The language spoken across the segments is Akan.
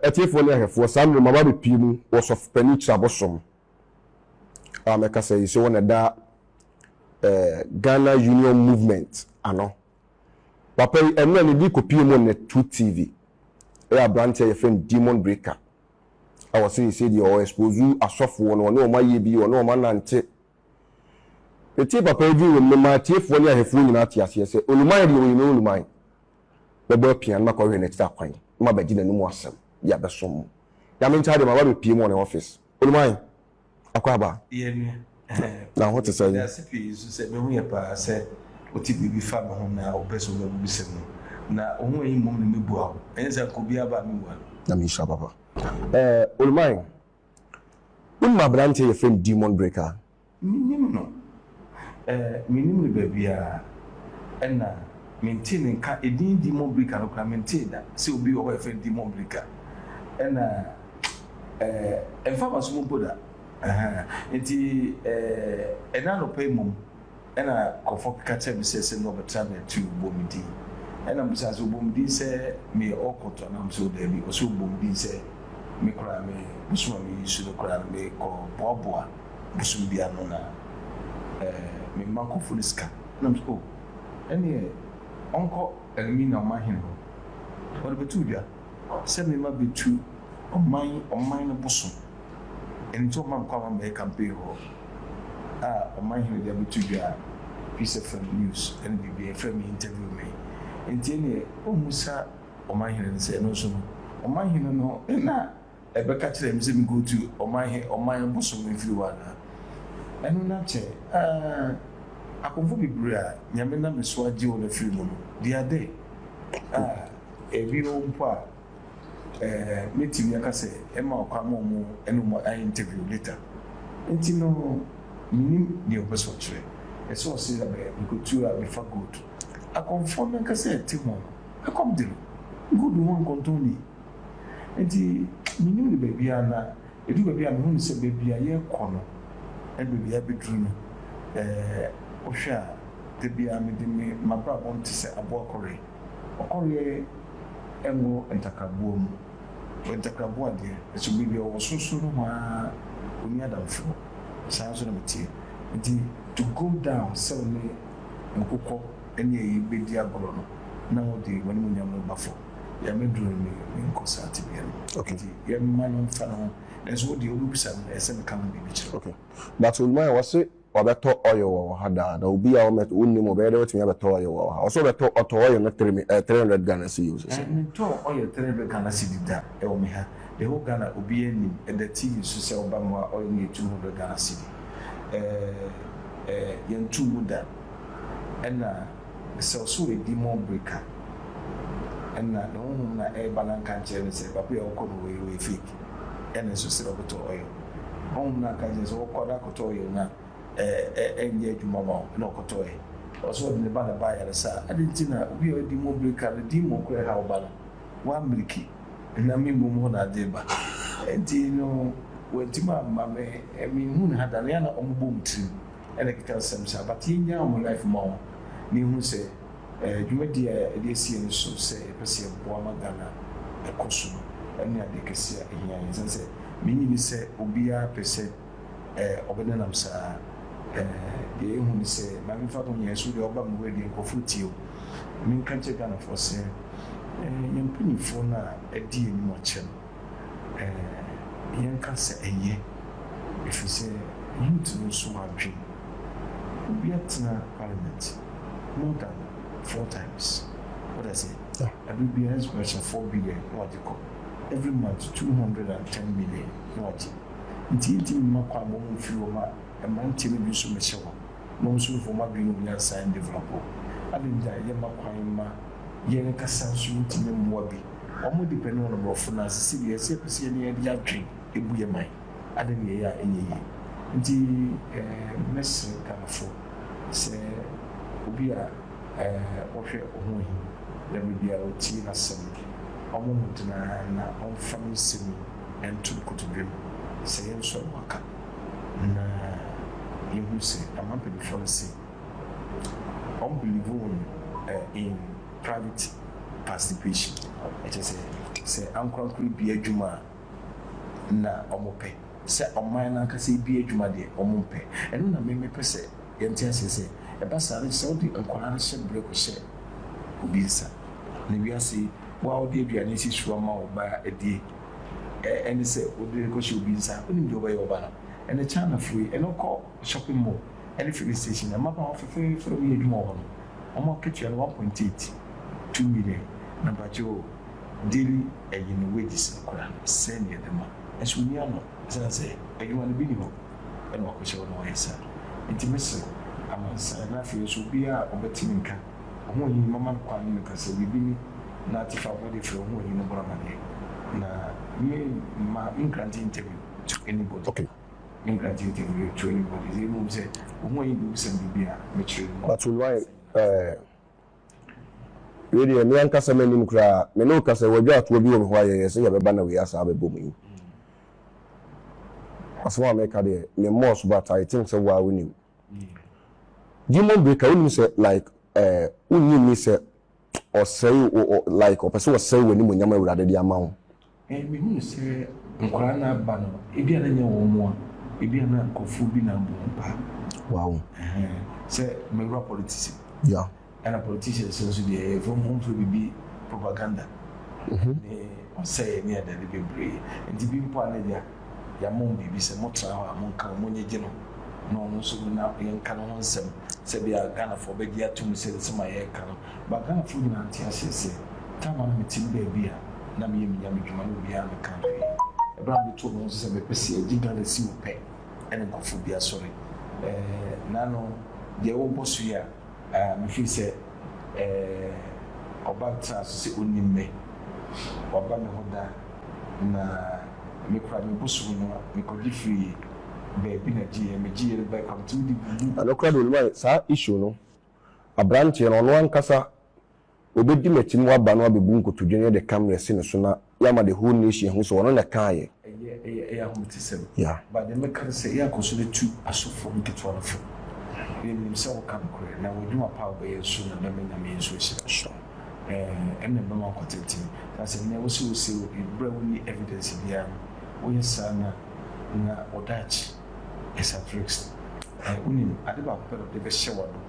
atiefoɔ ne ahwɛfoɔ saa mmerɛ maba bɛpie mu wɔ sɔfopani kyerabɔ som a mɛka sɛ yi sɛ wɔn ɛda eh, ghana union movement ano Papa yi ɛnɛ ne de kɔpie mu nnɛ Truth TV ɛyɛ abranteɛ a yɛfrɛ no Demon Breaker a ɔse yɛsei deɛ ɔ expose asɔfoɔ no ɔne wɔn ayɛ bi ɔne wɔn anante Metee papa yi din wɔ mu no maa atiefoɔ ne ahwɛfoɔ nyinaa tee aseɛ sɛ Oluman deɛ ɔyɛ Oluman Mɛbɔ apia na makɔhwehwɛ no akyiri akwan na mabɛgye n'anom asɛm de abɛsom mo Nyame nkyɛe deɛ maba abɛpie mu wɔ ne office Oluman. akwaaba. Yɛ me ɛhɛ. Na ho te sɛn? Meda ase pii nso sɛ mehu yɛ paa sɛ wote biribi fa me ho na wopɛ sɛ wobɛbisam no. Na wo ho ahi mmom na mebua wo. Ɛnyɛ sɛ anka obiara ba a menwua no. Nyame nhyira papa. Eh, Olumai, wonim aberanteɛ yɛfrɛ no Demon Breaker? Mennim no. Eh, mennim no baabiara. Ɛna mentee ne nka edin Dimon Brika no koraa, mentee da sɛ obi wɔ hɔ a yɛfrɛ no Dimon Brika. Ɛna eh, ɛmfa m'aso mu mpo da. Ahaa. Enti eh, ɛnnɛ anɔpa yi mmom, ɛna nkurɔfoɔ keka kyerɛɛ me sɛ sɛ nneɛ wɔbɛtra me ati o, bɔ me din. Ɛna mebisaa sɛ wobɔ me din sɛ meyɛ ɔkɔt anaa? Ɔse o daabi, ɔse wobɔ me din sɛ me koraa me bosom a meyi so no koraa no mekɔ boaboa. bosoom biara no na eh me mma kofo no sika na mese oh ɛneɛ ɔnkɔ Elmina ɔman hene hɔ ɔde bɛto dwa sɛ me mma bɛtu ɔman ɔman no bosoom ɛno nti ɔmma me kwan ma mɛyɛ campaign hɔ a ɔman hene de abɛto dwa a Peace FM news ɛne biribiara ɛfrɛ me interview me nti ɛneɛ ɔmmu sa ɔman hene no sɛ ɛno nso no ɔman hene no na Ɛbɛka kyerɛɛ me sɛ menkɔtu ɔman he ɔman bosom mfiri hɔ anaa? Ɛno na kyɛ aaa! Akomfo bebree a Nyame nam me so agye wɔn afiri mu no, di ade a. Bio mpo a, ɛɛ, mɛtumi aka sɛ ɛmma ɔkwan ma wɔn ne wɔn ayɛ interview later. Nti no, mennim deɛ ɔpɛ sɛ ɔkyerɛ. Ɛsɛ ɔse abɛ nkɔtu a mefa gold. Akomfoɔ no ankasa a ɛte ho no, ɛkɔm de no. Gold ho nkɔntɔn nie. Enti mennim no baabiara na ɛdu baabi a mehu no sɛ baabi a yɛrekɔ no ne baabi a abɛduru no. Wohwɛ a, da biara mede me m'abrabɔ no te sɛ aboa kɔre. Ɔkɔreɛ nwo ntakraboa mu. Ntakraboa deɛ, ɛso baabi a ɔwɔ sorosoro nohoa ara, ɔnni adamfoɔ. Saa ara nso na meteɛ. Enti to go down sɛ wo ne nkokɔ ne ayi bɛdi agorɔ no na wode w'animuonyam no ba fam. Nyame duro no me me nkɔ saa tebea no mu okay nti yɛ mma no nfa ne ho nanso wo deɛ wo bɛ bisa no ɛsɛ me ka ho biribi kyerɛ wo. Okay but Olumaya wɔ se wabɛ tɔ oil wɔ wɔ ha daa na obi a wo mɛ wo nim ɔbɛyɛ dɛ watumi abɛ tɔ oil wɔ wɔ ha ɔse ɔbɛ tɔ ɔtɔ oil no three mi ɛɛ three hundred Ghana cedis ɔse. Ɛɛ me ntɔɔ oil three hundred Ghana cedi da ɛwɔ me ha the whole Ghana obiaa nim ɛda TV so sɛ ɔba me hɔ a oil no yɛ two hundred Ghana cedi ɛɛ ɛɛ yɛn ntoo mu da ɛna Sɛ ɔsɔ w'adi mu bere ka ɛna ne honhom na ɛreba na nka nkyerɛ no sɛ baabi a ɔkɔ no ɔyɛ ɔyɛ fake ɛna nso sɛ ɔbɛtɔ ɔyɔ honhom na nka nkyerɛ sɛ ɔkɔ na akɔtɔ ɔyɔ na ɛ ɛ ɛnyɛ adwuma ma wo na ɔkɔtɔ ɛ. Ɔsɛ ɔde ne ba na ɛba ayaresa a adɛn nti na obi a ɔdi mu bere ka ne demon koraa ɛha wo ba no w'amiriki na me mmom hɔ na ade reba ɛnti no w'antumi amma me menhu ne ha da ne ana ɔmo bɔ wɔn tirim. ɛna ɛkeka nsɛm saa but yɛnyaa wɔn life ma wɔn na yɛhunu sɛ eh, dwumadie a yɛde asi yɛn so sɛ yɛpɛ sɛ yɛboa ma Ghana ɛkɔ so no ɛne adeɛ kɛseɛ a ɛhia yɛn ɛsiane sɛ menye ni sɛ obiara pɛ sɛ eh, ɔbɛnenam saa eh, deɛ yɛhu ne sɛ ma memfa no nyɛ so deɛ ɔba me wura deɛ nkurɔfoɔ tie o menka nkyɛ Ghanafoɔ sɛ eh, yɛn mpanimfoɔ no a ɛdi yɛn anim akyɛ no Ɛɛ, yɛnka sɛ ɛyɛ, efisɛ youth no nso adwene. Obi atena parliament more than four times, wate aseɛ? Ɛberɛ biara ɛnso koraa hyɛ four billion na wagye kɔ, every month two hundred and ten million na wagye. Nti yɛntumi mma kwan ma wɔn mfiri hɔ ma mmeranteɛ no bi nso mmɛhyɛ hɔ na wɔn nso mfa wɔn adwene ne wɔn nyansa ndevelop hɔ. Adɛn nti a yɛmma kwan mma. Yɛn kasa nso ntumi mmoa bi. Wɔn de bɛne wɔn mmorɔfo nan ase sɛdeɛ ɛsɛ. Yɛpɛ sɛ yɛne yɛn de adwen bu yɛn man ade ne yɛyɛ a ɛnyɛ yie. Nti mɛsrɛ Ghanafoɔ sɛ obi a ɔhwɛ ɔho ahi na berɛ biara ɔtie n'asɛm no, ɔmmɔ mmɔden ara na ɔmfa me nsɛm yi nto ne kotodwe mu sɛ yɛnsɔ no aka na yɛhunu sɛ aman mpaninfoɔ no se, wɔn believe wɔn in private participation ɛkyɛ sɛ sɛ ankorankoro bie adwuma a na wɔn pɛ sɛ ɔman no ankasa ebie adwuma deɛ wɔn mpɛ ɛno na mmemme pɛ sɛ yɛn ti aseɛ sɛ ɛba saa no sɛ wɔde nkwadaa no hyɛ brɛ kɔ hyɛ obi nsa na wiase wɔn a wɔde aduane si so ama wɔn ba adie ɛne sɛ wɔde rekɔ hyɛ obi nsa wɔn nim deɛ wɔbɛyɛ wɔn ba no ɛne China foɔ yi ɛne kɔ. shopping mall ne filling station na mmabaawa fɛfɛɛfɛ a wɔyɛ adwuma wɔ hɔ no, wɔn akatua no one point eight two million na bakyɛ o, daily ɛyɛ ne wages no koraa sɛn na yɛde ma? Nso onni ano ɛsiane sɛ adwuma no bi nni hɔ na wakohyɛ hɔ na wayɛ saa. Enti mesrɛ wo, amansan na afei nso obiara a ɔbɛte me nka, ɔhoɔhini no mɛma no kwan ne no ka sɛ biribi ni na ate fa abɔ de frɛ ɔhoɔhini no bɔ no amaneɛ na me mma me nkrante interview to anybody. Okay, England tee ntɛm yɛ tuo ne bɔne dze mmom sɛ ohun ɔnye bebusɛm biribi a mekyerɛ yi mu. Mato no ae ɛɛ. Wei deɛ me ankasa m'anim koraa me ne wo ka sɛ wɔadwa toɔ bi wɔ me hɔ a yɛyɛɛ sɛ yɛbɛba na wei asan abɛbɔ mu yi. Asɛm a meka deɛ me mmɔɔ so but I think sɛ wo ara wonim. Demon Breaker wonim sɛ like ɛɛ wonnye nni sɛ. ɔsɛe wo ɔ like ɔpɛ sɛ ɔsɛe w'animuonyam a Awurade de ama wo. Ɛɛ, mehunu sɛ nkwadaa no aba no, ebia na ɛnyɛ wɔn mmoa, ebia na nkurɔfoɔ bi na abɔ wɔn paa. Wow. Ɛhɛn, sɛ mewura politics mu. Yeah. Ɛna politicians no nso deɛ, yɛfrɛ wɔn, wɔmfrɛ biribi propaganda ne ɔsɛeɛ ne adade bebree. Nti bi mpo a na agya. Yɛama wɔn biribi sɛ motra hɔ a monka wɔn monyegye no na ɔno nso na yɛnka ne ho nsɛm sɛ bi a Ghanafoɔ bɛgye atom sɛ nsɛm a yɛreka no ba Ghanafoɔ nyinaa nte aseɛ sɛ time a na mete me baabi a na meyɛ me Nyame dwuma no obiara nka hwee. Ɛberɛ a metoo me ho so sɛ mepɛ sɛ yɛgye Ghana si mu pɛ ɛna nkurɔfoɔ bi asɔre ɛɛ Nano deɛ wobɔ so yi a, Mefiri sɛ ɔba ntena ase sɛ ɔnnim me, waba me hɔ da, na me koraa me bosom no a, mekɔgye firii baabi na gyeeɛ, megyeeɛ no bae kwamtom de guu mu. Nokorɛ deɛ onim ayɛ saa issue no, aberanteɛ no ɔno ankasa Obedi m'akyi na waba na wabebu nkotodwe no yɛ de camera asi ne so na yɛama the whole nation ahu sɛ ɔno na ɛkaeɛ. Ɛyɛ ɛyɛ ɛyɛ ahometisɛm. Yeah. But deɛ mɛka ne sɛ yɛ akɔ so na tu asɔfoɔ nketewa no fo. Yɛ nim sɛ wo ka nokorɛ na w'adwuma pa a wo bɛyɛ nso na bɛma Nyame nso ahyira wo. Sure. Ɛɛ ɛna ɛbɛma akɔ tenten. Na sɛ nea wo se wo se obi berɛ a wo nni evidence biara no wo yɛ saa na na wo daakye ɛsa tricks no. Ɛɛ wo nim ade baako pɛ na ɔde bɛhyɛ w'adom.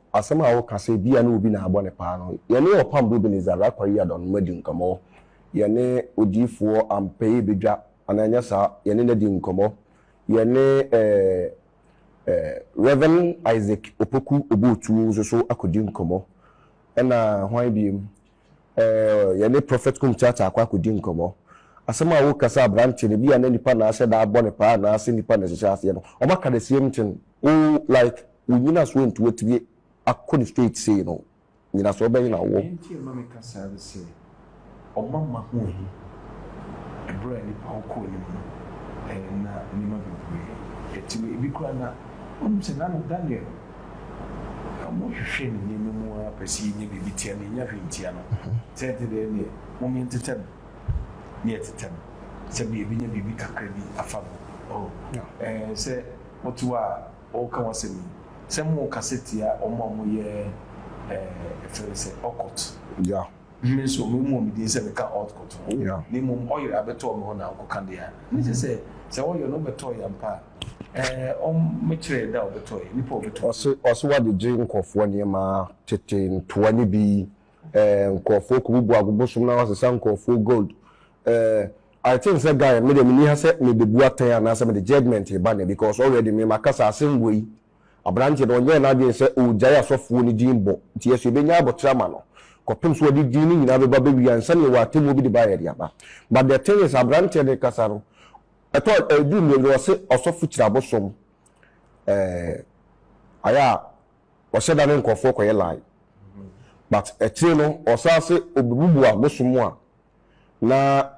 Asɛm a woka sɛ ebia ne obi na abɔ no paa no, yɛne Ɔpam Bobini Zarakwa Yiadon mma di nkɔmmɔ. Yɛne odiyifoɔ Ampey Bedwa, anaa ɛnyɛ saa? Yɛne no adi nkɔmmɔ. Yɛne eh, eh, Rev. Isaac Opoku Obootuo nso so akɔdi nkɔmmɔ. Ɛna hwan biom? Eh, yɛne Prophet Kumtata akɔ akɔdi nkɔmmɔ. Asɛm a wokasa aberanteɛ no, bi a na nipa na ahyɛ da abɔ no paa anaasɛ nipa na ɛhyehyɛ aseɛ no, wɔaka the same thing. Woo like, wo nyinasoɔ nti woatumi akɔ no straight sei no. Nyinasoɔ bɛn na wowɔ? Deɛ nti a ɛma meka saa ne sɛ, ɔma mma ho ahi. Ɛberɛ a nipa wo kɔɔ anim no, eh, na nneɛma bebree ɛte wei. Ebi koraa na wonim sɛ n'ano Daniel. Na mo hwehwɛ ne nneɛma mu ara pɛ sɛ yenya biribi tia no, yenya hwee ntia no. Sɛ ɛte dɛɛ deɛ, mome ntetɛ no, ne yɛtetɛ no, sɛdeɛ yɛbenya biribi kakra bi afa no. Oh, ɛɛ, sɛ wote hɔ a woreka w'asɛm yi, sɛ morekasa tia wɔn a wɔyɛ, ɛɛ, yɛfrɛ no sɛ occult. Yeah. Me nso, meremmɔ me din sɛ meka Ɔɔd kɔto hɔ, na mmom ɔyere abɛtɔɔ me hɔ na ɔkɔka deɛ a ne sɛ sɛ sɛ ɔyɔ no ɔbɛtɔeɛ ampa a, ɛɛ ɔm mekyerɛɛ da a ɔbɛtɔeɛ, nnipa a ɔbɛtɔ bi. Ɔse ɔse wade gye nkorɔfoɔ nneɛma tete ntoa ne bi ɛɛ nkorɔfoɔ kɔbubu abobosom na wasesa nkorɔfoɔ gold ɛɛ I think sɛ guy me deɛ menni ha sɛ mebebu atɛn anaasɛ mede judgement reba ne because already me makasa asɛm wei Aberanteɛ no, ɔnyɛɛ n'adwene sɛ ɔregyae asɔfoɔ no din bɔ, nti yɛso yɛbɛnya aboterɛ ama no, kɔpem sɛ ɔde din no nyinaa bɛba abɛwia ansa na yɛwɔ atemmuo bi de baeɛ de aba. But the thing is, aberanteɛ no rekasa no, ɛtɔ, ɛduru mmerɛ bi no, ɔse ɔsɔfo kyiri abosom, ɛɛ, ayɛ a, ɔhyɛ da ne nkorɔfoɔ kɔyɛ lie. But akyire no, ɔsan se ɔbɛbubu abosom a, na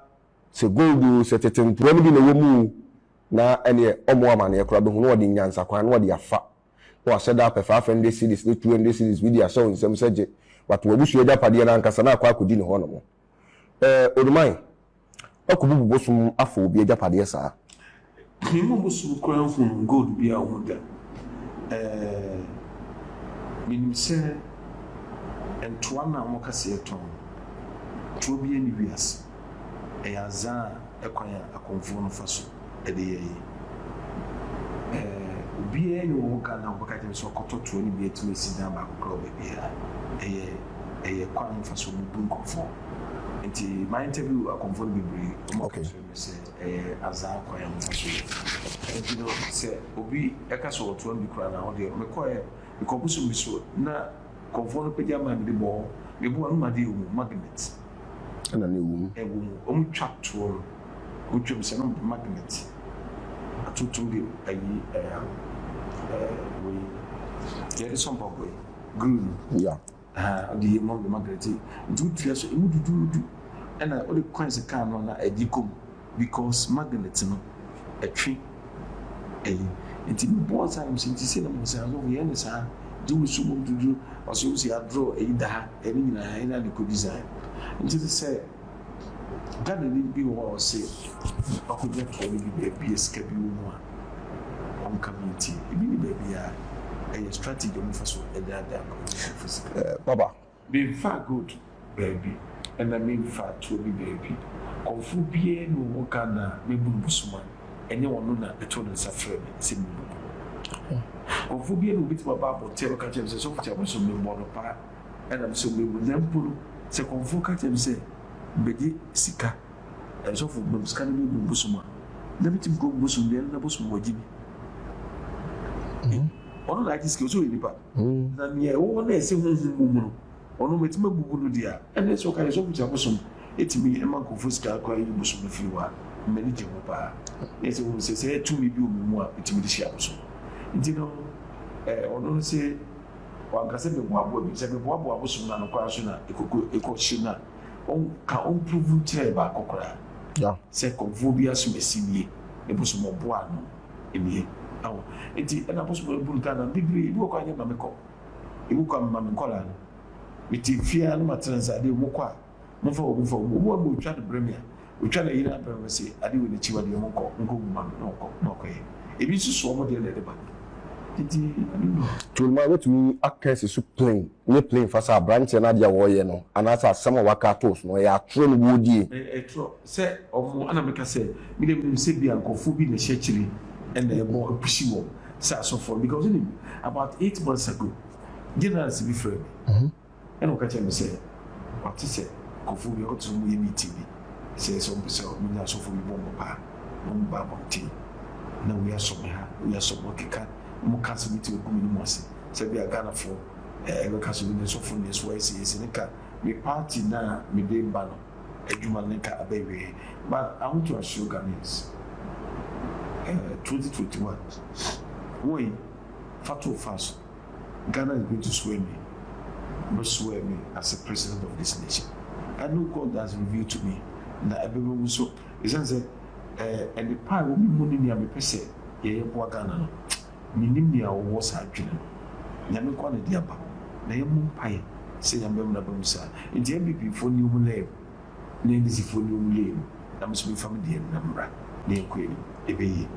sɛ gold o, sɛ tete ntoa no bi na ɛwɔ mu o, na ɛneɛ ɔmɔ amaneɛ koraa bɛhu na ɔde nyansa kwan na ɔde afa na wahyɛ da apɛ 500 cedis ne 200 cedis bi de ahyɛ wo nsam sɛ gye but w'abusua agyapadeɛ no ankasa na akɔ akɔdi ne hɔnom eh Onuman akɔbubu bosom afa obi agyapadeɛ saa. Me ma bosom koraa nhunu gold bi a ɔhu da eh menim sɛ ntoa no a wɔka sɛ yɛtɔn no toa biara nni wiase. ɛyɛ adze a kwan a akɔmfo no fa so de yɛ yi, obiara nnyi hɔ a ɔbɛka dɛ ɔbɛka kyerɛ me sɛ ɔkɔtɔ toa no bi etum esi dan baako koraa wɔ beebiara. Ɛyɛ ɛyɛ kwan a wɔfa so bu nkɔmfo. Ntsi ma interview akɔmfo no beberee, wɔkaa okay. kyerɛ me sɛ ɛyɛ adze a kwan a wɔfa so yɛ. Ntsi no sɛ obi ka sɛ ɔwɔ toa no bi koraa na ɔwɔ dɛ mekɔɛ, nkɔmfo so bi so na Nkurɔfoɔ no pagya maa me de bɔɔ me boɔ no mu adeɛ wɔ mu, magnet. Ɛna na ɛwɔ mu. Ɛwɔ mu. Wɔn twa toɔ no. Wɔn twam sɛ no magnet. Atuntum de ayi ɛɛ ɛɛ wei deɛ yɛde sɔ mpaboa yi, glue no. Ya. Aha, ɔde yɛ mu de magnet yi. Nti wotua so, emu duduudu. Ɛna wode coins kaa no na ɛgye kɔ mu. Because magnet no ɛtwe ɛyi nti me bɔ nsa nom sɛ nti sɛ na mo sɛ asɔfo yɛn ne saa gye wo so mu dwodwo ɔsɛ wo sɛ yɛadorɔ ɛyi da ha ɛne nyinaa ha ɛna ne kɔ design nti te sɛ Ghana ni bi wɔ hɔ a ɔsɛ ɔkɔgya toɔ no bi baabi a sika bi wɔ mu a ɔnka me nti ebi ne baabi a ɛyɛ strategy ɔmo fa so ɛdaadaa kɔ fofo sika. Papa Menfa gold baabi ɛna menfa atuo bi baabi kɔmfoɔ biara nni ho ka na mebunu busuma ɛnyɛ ɔno na ɛto ne nsa frɛ me sɛ mebunu bu ho kɔmfoɔ biara nni hɔ bɛtumi aba abɔntene abɛka kyerɛ me sɛ sɔfo Kyalma so mebɔ no paa ɛna me so mebu na mpo no sɛ kɔmfoɔ ka kyerɛ me sɛ bɛgye sika ɛɛ sɔfo mam sika no mebunu bosom a na metumi kɔ bosom deɛ na bosom wagye bi ɔno na agye sika so yɛ nipa. ho. Na nea ɛwɔ hɔ na ɛsɛ honhom wɔ mu no, ɔno metumi abubu no deɛ a, ɛnneɛ sɛ ɔka deɛ sɛ ɔfiti abosom tumi ma nkurɔfoɔ sika kora yi bosom no firi hɔ a, m'ani gye ho paa. Na ɛsɛ ɔhu sɛ sɛ tumi bi wɔ me mu a metumi de hyia abosom. Nti no eh, ɔno no se wanka sɛ meboaboa bi. Sɛ meboaboa abosom no ano koraa nso na ɛkɔkɔ ɛkɔhye no a, ɔnka ɔmprovu nkyerɛ baako koraa sɛ nkurɔfoɔ bi asom asimie ne bosom ɔboa ano. nie awo nti ɛna bosom no buru kaa nam bebree ebi wɔ kɔ a nyɛ ma me kɔ ebi kɔ a mema me nkɔlaa no me te fie a na ma tena nsa adeɛ ɔmo kɔ a mo fa ɔmo fa ɔmo ɔmo ɔmo otwa no brɛ me a otwa na yere abrɛ me se adeɛ wɔ n'akyi wa deɛ ɔmo nkɔ nkɔ gu ma me na ɔkɔ na ɔkɔ yɛ ebi nso so ɔmo deɛ na ɛde ba nti ɛno no. Tolima wobɛtumi aka asi so plain ne plain fa sɛ abranteɛ no adeɛ a ɔreyɛ no anaasɛ asɛm a waka ato so no ɛyɛ atorɔ na wɔredie? Ɛyɛ atorɔ. Sɛ ɔmo a na meka sɛ me deɛ menim sɛ bia nkorɔfoɔ bi na ɛhyɛ akyire ɛna ɛbɔ ɛpushi wɔn sɛ asɔfoɔ no because wonim about eight months ago Generals bi frɛ me ɛna ɔka kyerɛ me sɛ wate sɛ nkorɔfoɔ bi ɔte sɛ ɔmo yɛ meeting bi sɛ sɛ ɔmo pɛ sɛ ɔmo nya asɔfoɔ bi bɔ ɔmo paa na ɔmo ba abɔnten na wei asɔ me ha wei asɔ me ɔkeka ɔmo ka asɛm bi te ɔgu m'anim ase sɛ bia Ghanafoɔ ɛbɛka sɛ ɔno deɛ sɔfo no deɛ so wayɛ sɛ yɛ sɛ ne ka me party no a mede ba no. Adwuma no ka abɛwie ma ahotoasoɔ Ghanaians eh 2021 Woy fa to fa so Ghana is going to swear me Bɛ swear me as a president of this nation And no God has revealed to me Na ɛbɛba mu nso Ɛsiane sɛ eh nnepa a ɛwɔ me mu ne nea mepɛ sɛ yɛyɛ boa Ghana no Mennim nea wowɔ saa adwene no. Nyame nkoa na ɛde aba. Na yɛmmɔ mpaeɛ sɛ Nyame bɛmena aba mu saa. Enti NPPfoɔ nni wɔn layer mu, na NDCfoɔ nni wɔn layer mu, na me nso memfa me deɛ na mmra, na yɛnkɔ yɛn anim. Ɛbɛyɛ yie.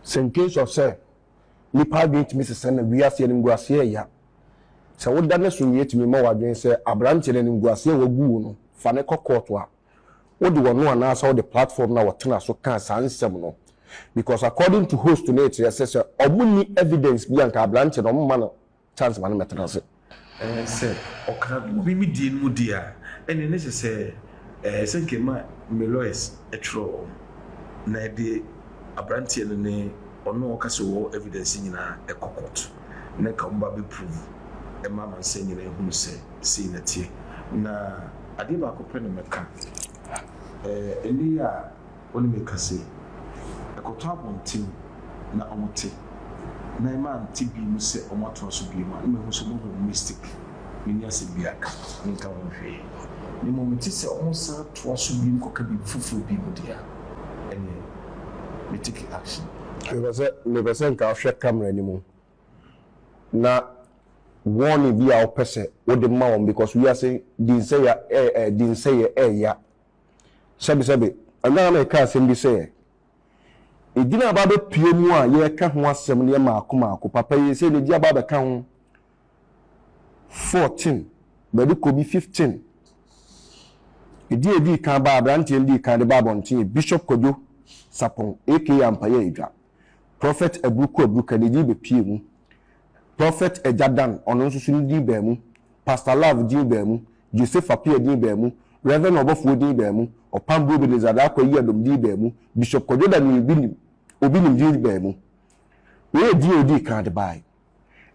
Sɛ in case of sɛ nnipa adwene tumi sesa na wiase animguaseɛ ɛya, sɛ woda no so nwie tumi ma w'adwene sɛ aberanteɛ no animguaseɛ a wagu wo no, fa no kɔ court a, wode wɔn anaasɛ wode platform no a wɔtena so kaa saa nsɛm no because according to host no ɛkyerɛ sɛ sɛ wɔn nni evidence bi a nka abrante no wɔn mma no chance ma no mmɛtena ase. Ɛɛ sɛ ɔka obi me die no mu deɛ a ɛne ne sɛ sɛ ɛɛ sɛ nka ɛma me lawyers ɛtwerɛ wɔn na ɛde abranteɛ no ne ɔno a ɔka sɛ ɔwɔ evidence nyinaa ɛkɔ court. na nka ɔmba bɛ prove mma amansan nyina ehunu sɛ sei na ɛteɛ. Na adeɛ baako pɛ na mɛka, ɛɛ nne yi a ɔne me kasa yi, ɛkɔtɔ abɔnten na ɔmo te, na ɛma ante bi mu sɛ ɔmo atoa so biom a, na mehu sɛ ɔmo ahu ɔmo mistake. Menni asɛm bi aka, menka ho hwee, na mmom mete sɛ ɔmo san toa so biom kɔka biribi foforɔ bi mu deɛ a, ɛneɛ. me take action. Mepɛ sɛ mepɛ sɛ nka wohwɛ camera no mu na warning bi a wopɛ sɛ wode ma wɔn because wiase dinsɛya ɛɛ ɛɛ dinsɛyɛ ɛɛya sɛbesɛbe ɛna na meka asɛm bi sɛ edin a aba abɛpue mu a yɛreka ho asɛm no yɛ maako maako papa yi sɛ na edin aba abɛka ho 14, bɛde kɔ bi 15. Ɛdi a ɛdii kan baa aberanteɛ no dii kan de baa abɔnten yɛ Bishop Kwadwo Sapong aka Ampaeɛ Adwa, Prophet Aburuku Aburuka ne din bɛpuee mu, Prophet Agya Dan ɔno nso so ne din baa mu, Pastor Love din baa mu, Joseph Appiah din baa mu, Rev. Ɔbɔfoɔ din baa mu, Ɔpambo Ebenezer Darko Ayiadom din baa mu, Bishop Kwadwo Daniel Obi Nim Obi Nim din baa mu. Wei yɛ din a ɔdii kan de baeɛ.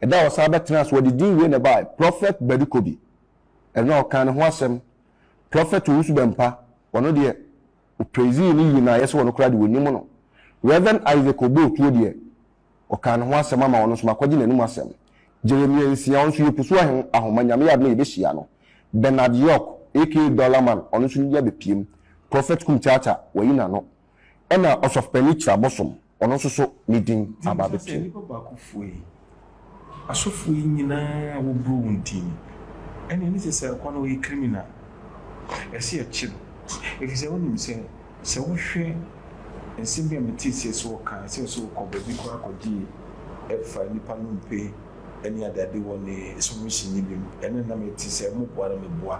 Da a ɔsan bɛtenaa ase, wɔde din wei na ɛbae, Prɔfɛt Badukobi. Ɛno na wɔkaa ne ho asɛm. Prɔfɛt Owusu Bɛmpa, ɔno deɛ, wɔpraisee no yie na ayɛ sɛ ɔno koraa deɛ wɔnim no. Rev. Isaac Obootuo deɛ, wɔkaa ne ho asɛm ama ɔno nso, makɔgye n'anom asɛm. Jeremia Nsia, ɔno nso, yɛpusu ahoma, Nyame yɛ adom a yɛbɛhyia no. Bernard York, aka Dollar Man, ɔno nso ne din abɛpiem. Prɔfɛt Kum Kyaakya, wɔayi n'ano. Ɛnna Ɔsɔfopanin Kyerɛ Abosom. Ɔno nso so ne din aba abɛto mu. Enti, nnipa baakofoɔ yi, asɔfoɔ yi nyina ara wɔboro wɔn ti ni. Ɛnneɛ ɛnne sɛ saa kwa no ɔyɛ criminal. Ɛsɛ yɛkye no. Ɛfiri sɛ wonim sɛ, sɛ wohwɛ nsɛm bi a metee sɛ sɛ wɔka, sɛ sɛ wokɔ baabi koraa kɔgye ɛfa nnipa nnompe ne adeade wɔ ne sɔhwɛ hyɛnni bi mu, ɛnna na mete sɛ moboa na meboa.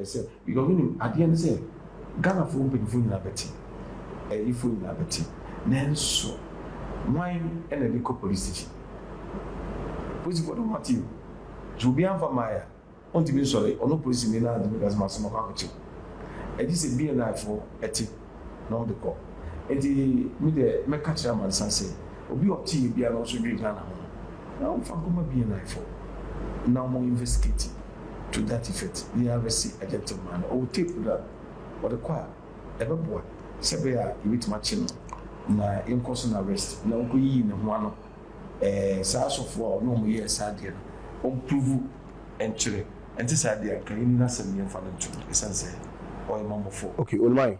Ɛsɛ deɛ ɔmo nim. Adeɛ ne sɛ Ghanafoɔ mpaninfoɔ nyinaa bɛte, ayifoɔ nyinaa bɛte, nanso wan na ɛde kɔ police station? Polisifoɔ de ɔmo ate o, sɛ obi amfa mmaeɛ a, ɔntumi nsɔre, ɔno polisini no ara ntumi nka sɛ maso makɔ akɔkyɛ o. Ɛgye sɛ BNI foɔ te. na ɔde kɔ. Enti me deɛ mɛka kyerɛ amansan sɛ, obi a ɔte yɛ biara na ɔso dwe Ghana ho no, na ɔmfa nkɔma BNI fo na ɔmo investigate to that effect na yɛ arrest a gentleman no. Ɔwɔ tape no a, ɔde kɔ a, ɛbɛboa sɛ ɛbɛyɛ a yɛbɛtumi akye no na yɛnkɔ so no arrest na ɔnkɔ yiyi ne ho ano. Ɛɛ saa asɔfo a ɔne wɔn yɛɛ saa adeɛ no, wɔn pruvu nkyerɛ ɛnte saa deɛ a, nka yɛnni n'asɛm yɛmfa no nto no, ɛsiane sɛ ɔyɛ mamɔfo. Okay Olumayi,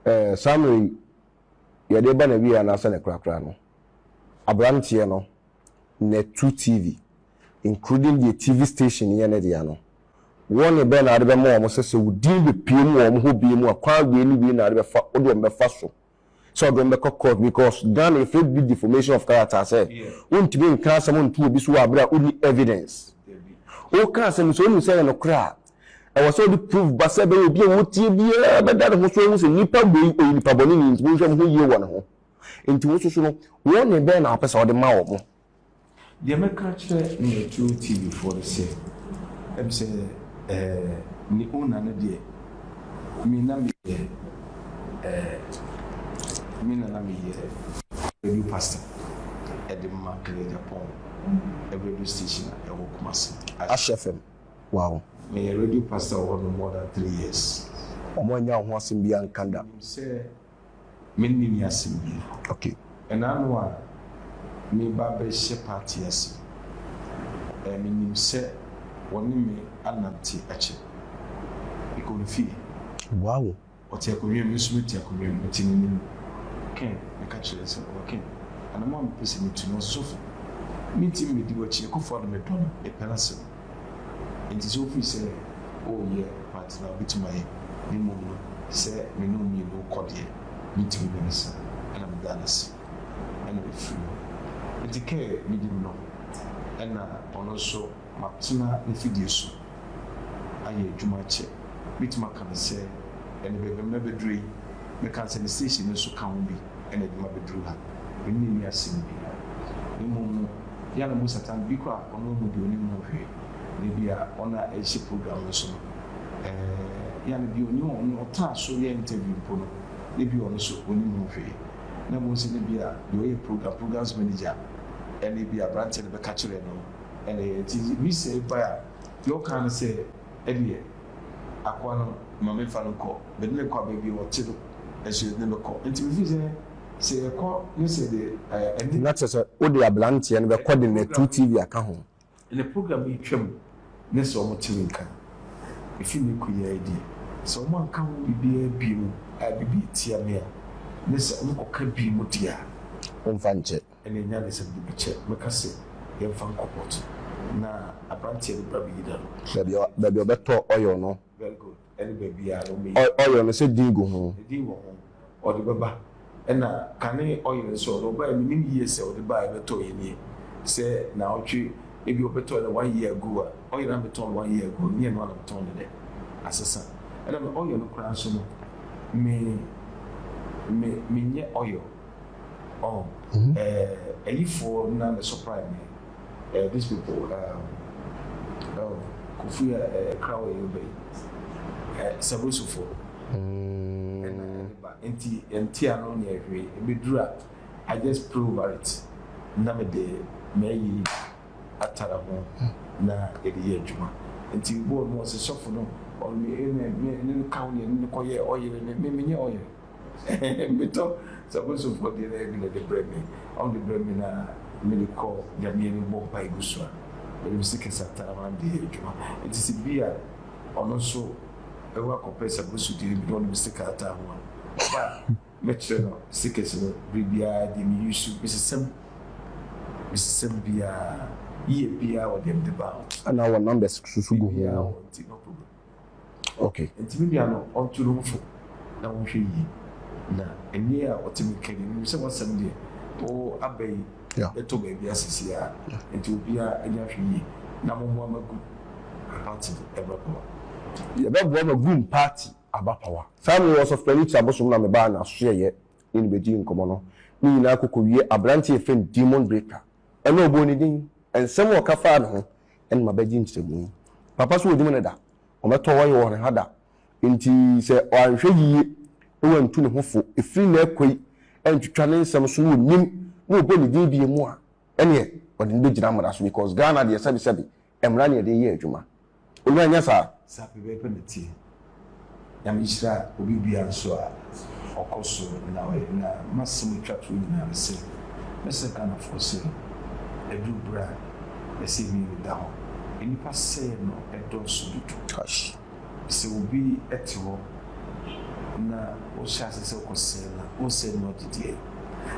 ɛɛ saa mmerɛ yi yɛde reba n'awieɛ anaasɛ ne korakora no, abranteɛ no na ɛtu TV, including deɛ TV station yɛ ne dea no, warning bɛn na wode bɛma wɔn sɛ sɛ wo din bɛpue mu wɔ wɔn hɔ bio mu a, kwan wei ne wei na wode bɛfa, wode wɔn bɛfa so? sɛ ɔde wɔn bɛkɔ court because Ghana yɛfrɛ biribi defamation of character sɛ wontumi nka asɛm nto obi so wɔ abere a wonni evidence. Woka asɛm sɛ wonim sɛ ɛyɛ nokorɛ a, ɛwɔ sɛ wode proof ba sɛ ɛbɛyɛ obi a wotie biara bɛda ne ho so ahu sɛ nipa wei ɔyɛ nipa bɔneni nti monhwɛ mo ho yie wɔ ne ho. Nti wo nso so no, warning bɛn na wopɛ sɛ wode ma wɔn? Deɛ mɛka akyerɛ Metro TV foɔ ne sɛ, ɛm sɛ ɛɛ ne owner no deɛ me na me yɛ ɛɛ me na na me yɛ radio pastor ɛde ma ɛyɛ Japan radio station a ɛwɔ Kumasi. Ash FM wow. Me yɛ radio pastor wɔ hɔ no more than three years. Ɔmo annya wo ho asɛm biaa nka da. Menim sɛ. Me nni ni asem bi. Okay. Ɛna ano a me ba bɛ hyɛ party ase ɛɛ me nim sɛ wɔ ne me anante akyɛ. Me kɔ ne fie. Wow. Ɔte akonnwa mu me nso me te akonnwa mu me te ne nim. Ken me ka kyerɛ sɛ ɔɔ Ken anamɔ a me pɛ sɛ me tu no ɔsofo me nti me di wakyi Akufo Addo me dɔ no me pɛ n'asem. Enti sɛ ofiri sɛ, Oh, yɛ, mate na obetumi ayɛ, na mmom no, sɛ me ne wo mmienu kɔ deɛ, metumi ne no sa, ɛna meda no ase, ɛna mefiri hɔ. Enti Kerr bedi me hɔ, ɛna ɔno nso matena n'afidie so ayɛ adwuma akyɛ. Mɛtumi aka no sɛ, ɛnne bɛbɛ mɛbɛdurɛ yi, mɛka no sɛ ne station no nso ka ho bi. na ɛde ma beduru ha. Minnye nni asɛm biara. Mmom no, hia na mu Satan bi koraa a ɔno mmɔde onim ho hwee, na ebia wɔn a ɛrehyɛ program no so no, ɛɛ, hia na bi a onim wɔn ne ɔtaa so yɛ interview mpo no, na ebia ɔno nso onim ho hwee. Na mmom sɛ ebia deɛ ɔyɛ program, programmes manager, na ebia aberanteɛ no bɛka kyerɛɛ no no, ɛɛ, nti visa yi bae a, deɛ ɔkaa ne sɛ, Ɛdeɛ, akoa no, ma menfa no nkɔ. Mede no kɔ baabi a ɔte no, nso yɛde no bɛkɔ. Enti mefiri sɛ, sɛ yɛkɔ ne sɛ deɛ ɛne. Na kyerɛ sɛ, wode abranteɛ no bɛkɔ de Natu TV aka ho. Ne program yi twam ne sɛ wɔte me nka. Ɛfiri ne nkoyiaeɛ deɛ, sɛ wɔanka ho biribiara bio a ɛbɛbi atia me a, ne sɛ wɔkɔka bio deɛ a. Womfa nkyɛ. Ɛnna nyansam de bi kyɛ me ka sɛ yɛmfa nkɔ port na aberanteɛ no bra bɛyi n'ano. Baabi a baabi a ɔbɛtɔ oil no. Very good. Ɛne baabi a na wɔyi. Oil oil no sɛ din gu ho. Din wɔ ho. Ɔde bɛba. Ɛnna kane oil nso ɔde ɔbaeɛ menim yie sɛ ɔde baeɛ bɛtɔeɛ nie sɛ naawɔtwe ebia ɔbɛtɔeɛ no one year ago a oil a metɔn no one year ago no nyɛ ɛno ara na metɔn no nnɛ asesa ɛnna me oil no koraa nso no me me menyɛ oil. Oh, mm-hmm. uh, eh, Ayifo na the surprise me. Uh, these people, um, oh, Kofi uh, eh, Krawa Yobe, uh, Sabosofo. Mm. And, uh, but nti nti ano na ɛhwɛ ebeduru a I just pray over it na me de mɛyi atara ho na yɛde yɛ adwuma nti bɔɔl no ɔsɛ sɔfo no ɔno ɛna ne ne kaw ne ne kɔyɛ ɔyere ne ne menyɛ ɔyere. Metɔ sabonsumfoɔ deɛ na ebi na ɛde brɛ me, ɔmo de brɛ me na me de kɔ Nyame anim bɔ mpae gu so a, menim se Kesata na maame de yɛ adwuma. Enti se bi a ɔno nso ɛwɔ akɔpɛ sabonsu deɛ no bi na ɔnim sika ataa ho a, ɔba a, mɛkyerɛ no sekes no bere biara deɛ me use u, mesesa mu, mesesa mu biara, year biara wɔ deɛ mede ba ho. Ɛna wɔ numbers susu gu ho. Biribiara wɔ nti no problem. Okay. Nti me nua no ɔnto no mu fo na ɔnhwɛ yie. Na ɛnneɛ a ɔte me nka yi, menim sɛ w'asɛm deɛ, wo aba yi bɛtɔ baabi a seesei ara. Nti obiara ani ahwɛ yie na mommoa ma gu party aba power. Yɛbɛboa ma gu party aba power. Saa mmerɛ yi Ɔsɔfopanin Ti Abosom na me baa n'asoɛeɛ ne no bɛdii nkɔmmɔ no. Ne nyinaa kɔ kɔwie aberanteɛ a yɛfrɛ no Demon Breaker. Ɛnna ɔbɔɔ ne din. Nsɛm a ɔka faa ne ho ɛna mabɛgye nkyerɛmu yi. Papa so wɔnim no da, wɔbɛtɔ wɔyɛ wɔ hɔn ha da, ntsi sɛ ɔannhwɛ yie na wɔanntu no ho fo firi nnɛ rekɔ yi anntwitwa ne nsɛm so na wɔnim na wɔbɔ ne din bie mu a, ɛneɛ wɔde no bɛgyina mmara so because Ghana deɛ sɛbesɛbe mmara na yɛde yɛ adwuma. Ɔnua nyɛ saa. Saa pɛpɛɛpɛ na ɛteɛ. Nyame hyira obi bia nso a ɔkɔ so na ɔyɛ na masɛm a ɛtwa toɔ nyinaa ne sɛ mɛsrɛ Ghanafoɔ sɛ aduru berɛ a ɛsɛ mmienu da hɔ nnipa sɛeɛ no dɔɔso dodo. Kash, sɛ obi te hɔ na wohyɛ aseɛ sɛ wokɔ sɛe no a, wonsɛe no agye deɛ.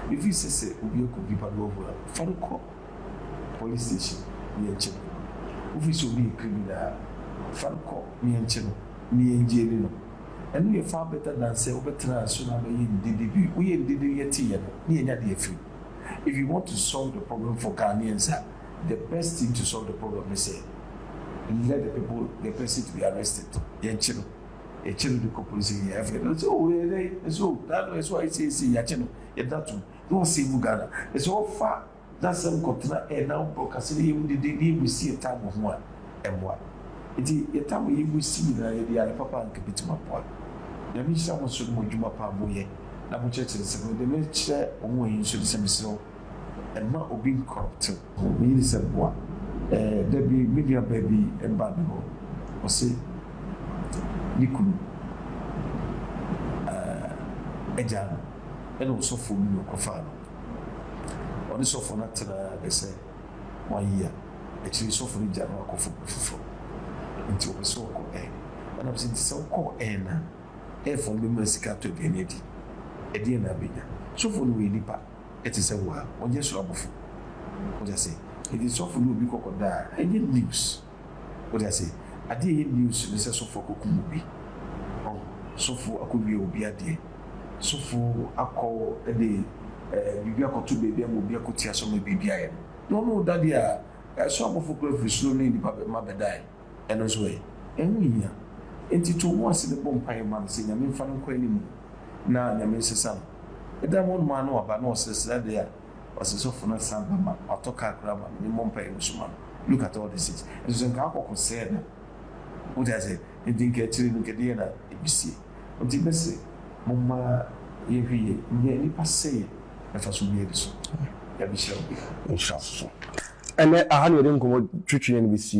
Mefiri sɛ sɛ obi akɔdi bad over a, fa no kɔ. Police station yɛnkyɛ no wofiri sɛ obi yɛ criminal a fa no kɔ na yɛnkyɛ no na yɛngyeli no ɛno yɛ far better than sɛ wobɛtena aso na abɛyɛ ndede bi woyɛ ndede no yɛte yɛ no na yɛnya de afiri mu if you want to solve the problem for Ghanaians a the best thing to solve the problem ne sɛ let the people the person to be arrested yɛnkye no yɛkyɛ no de kɔ police station yɛafiri ɛno sɛ oh yɛdɛn ɛsɛ oh daa no ɛsɛ ayɛ seisei yɛakyɛ no yɛda tom. na ɔsɛ egu Ghana. Na sɛ ɔfa n'asɛm kɔtena ɛɛ na ɔbɔ kasa na yɛhu dede na yɛbu si ɛtam wɔ ho a, ɛmmoa. Nti yɛtam a yɛbu si nyinaa yɛde yɛ ade papa a anka ɛbɛtumi aboa. Nyame nhyira mo nso ne mo adwuma pa a moyɛ na mokyerɛkyerɛ nsɛm no. Deɛ mekyerɛ wɔn wɔ he nso ne sɛ mesrɛ wo mma obi ncorrupte wo. Me yere sɛ boa. Ɛɛ da bi me nua baa bi baa me hɔ, ɔse ne kunu ɛɛ agyaa no. ɛna ɔsɔfoɔ bi na ɔkɔfaa no. Ɔne sɔfoɔ no atenaa bɛ sɛ one year, akyire yi sɔfoɔ no gyaa no akɔfa obi foforɔ. Nti ɔpɛ sɛ ɔkɔ ɛ. Ɛna me sɛ nti sɛ wokɔ ɛ no a, ɛfoɔ no bɛma sika atɔ aduane adi. Ɛdeɛn na abɛnya? Sɔfoɔ no ɔyɛ nipa ɛte sɛ wo a, ɔnyɛ soro abɔfoɔ. Wate aseɛ? Nti sɔfoɔ no obi kɔ kɔda a, ɛnyɛ news. Wote aseɛ? Adeɛ a ɛyɛ news ne sɛ sɔfoɔ akɔkum obi. Ɔho? Sɔfoɔ akɔwia obi adeɛ. Sɔfoɔ akɔ de ɛɛ biribi akɔto baabi ama obi akɔti asɔ ama biribi ayɛ no. Na ɔno reda deɛ a, ɛsoro abɔfoɔ koraa firi soro ne nnipa mma bɛdae. Ɛno nso ɛ? Ɛho nhia. Enti to wo ho ase na bɔ mpaeɛ ma no sɛ Nyame mfa no nkɔ anim. Na Nyame nsesa no. Da no hɔ nom ara na waba na ɔsresre adeɛ a. Ɔse sɔfo no san ba ma ɔtɔ car koraa ma no ne mmɔ mpaeɛ no suma no look at all this things nso sɛ nka akɔko sɛɛ na wote aseɛ nti nka akyire no nka deɛ na ɛbɛsie nti mɛse momma yɛnhwɛ yie nyɛ nipa sɛeɛ mfa so bia bi so nyame hyira wo bia. Nhyira so so. Ɛnɛ aha na yɛde nkɔmmɔ twetwe yɛn bɛsie.